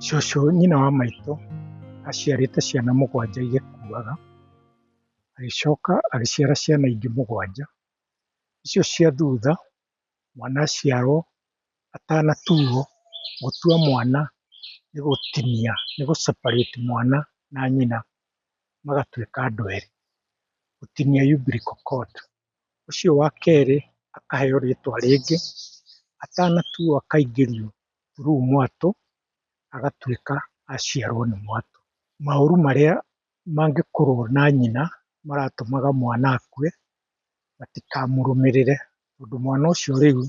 Cũcũ nyina wa maitũ aciarĩte ciana mũgwanja igĩkuaga, agĩcoka agĩciara ciana ingĩ mũgwanja, icio cia thutha mwana aciarwo atanatuo, gũtua mwana nĩ gũtinia, nĩ gũ separate mwana na nyina magatuĩka andũ erĩ, gũtinia umbilical cord. ũcio wa kerĩ akaheo rĩtwa rĩngĩ, atanatuo akaingĩrio through mwatũ, agatuĩka aciarwo nĩ mwatũ. Maũru marĩa mangĩkorwo na nyina maratũmaga mwana akue, matikamũrũmĩrĩre tondũ mwana ũcio rĩu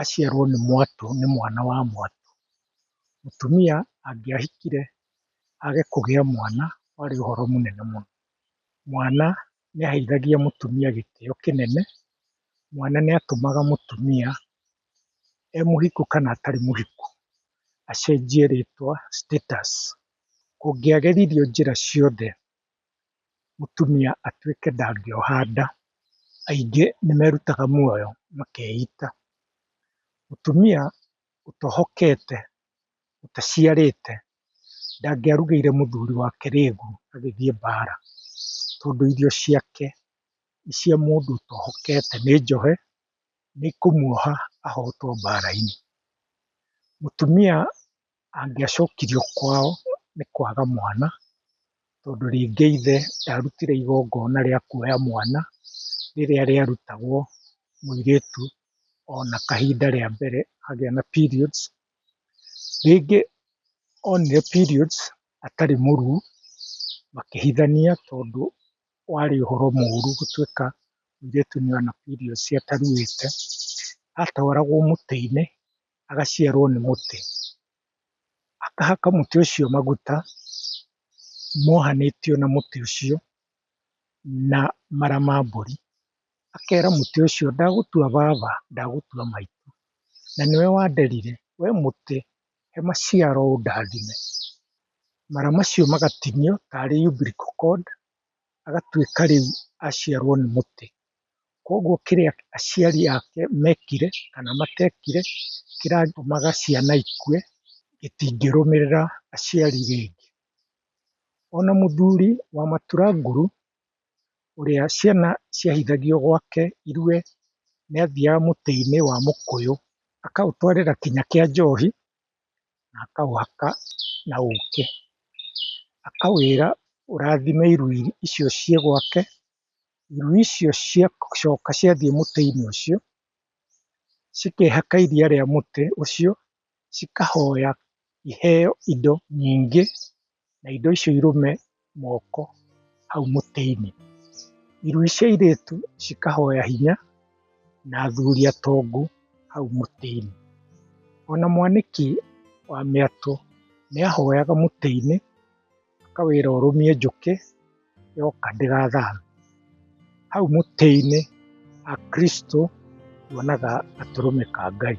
aciarwo nĩ mwatũ nĩ mwana wa mwatũ. Mũtumia angĩahikire age kũgĩa mwana warĩ ũhoro mũnene mũno. Mwana nĩaheithagia mũtumia gĩtĩo kĩnene, mwana nĩatũmaga mũtumia e mũhiku kana atarĩ mũhiku acenjie rĩtwa, status. Kũngĩageririo njĩra ciothe mũtumia atuĩke ndangĩoha nda, aingĩ nĩmerutaga muoyo makeita. Mũtumia ũtohokete ũtaciarĩte ndangĩarugĩire mũthuri wake rĩgu agĩthiĩ mbara, tondũ irio ciake nĩ cia mũndũ ũtohokete nĩ njohe, nĩ kũmuoha ahotwo mbara-inĩ. Mũtumia angĩacokirio kwao nĩ kwaga mwana, tondũ rĩngĩ ithe ndarutire igongona rĩa kuoya mwana rĩrĩa rĩarutagwo mũirĩtu ona kahinda rĩa mbere agĩa na periods. Rĩngĩ onire periods atarĩ mũruu makĩhithania tondũ warĩ ũhoro mũru gũtuĩka mũirĩtu nĩona periods ataruĩte. Atwaragwo mũtĩ-inĩ agaciarwo nĩ mũtĩ, akahaka mũtĩ ũcio maguta mohanĩtio na mũtĩ ũcio na mara ma mbũri. Akera mũtĩ ũcio ndagũtua baba, ndagũtua maitũ, na nĩwe wanderire, we mũtĩ he maciaro ũndathime. Mara macio magatinio tarĩ umbilical cord agatuĩka rĩu aciarwo nĩ mũtĩ. Koguo kĩrĩa aciari ake mekire kana matekire kĩratũmaga ciana ikue gĩtingĩrũmĩrĩra aciari rĩngĩ. Ona mũthuri wa matura nguru ũrĩa ciana ciahithagio gwake irue, nĩathiaga mũtĩ-inĩ wa mũkũyũ, akaũtwarĩra kinya kĩa njohi, na akaũhaka na ũkĩ. Akaũgĩra ũrathime irui icio ciĩ gwake, irui icio ciacoka ciathiĩ mũtĩ-inĩ ũcio, cikehaka iria rĩa mũtĩ ũcio, cikahoya iheo indo nyingĩ, na indo icio irũme moko hau mũtĩ-inĩ. Iruĩ cia airĩtu cikahoya hinya, na athuri atongu hau mũtĩ-inĩ. Ona mwanĩki wa mĩatũ nĩahoyaga mũtĩ-inĩ. Ĩka wĩra ũrũmie njũkĩ yoka ndĩgathambio. Hau mũtĩ-inĩ Akristo monaga gatũrũme ka Ngai.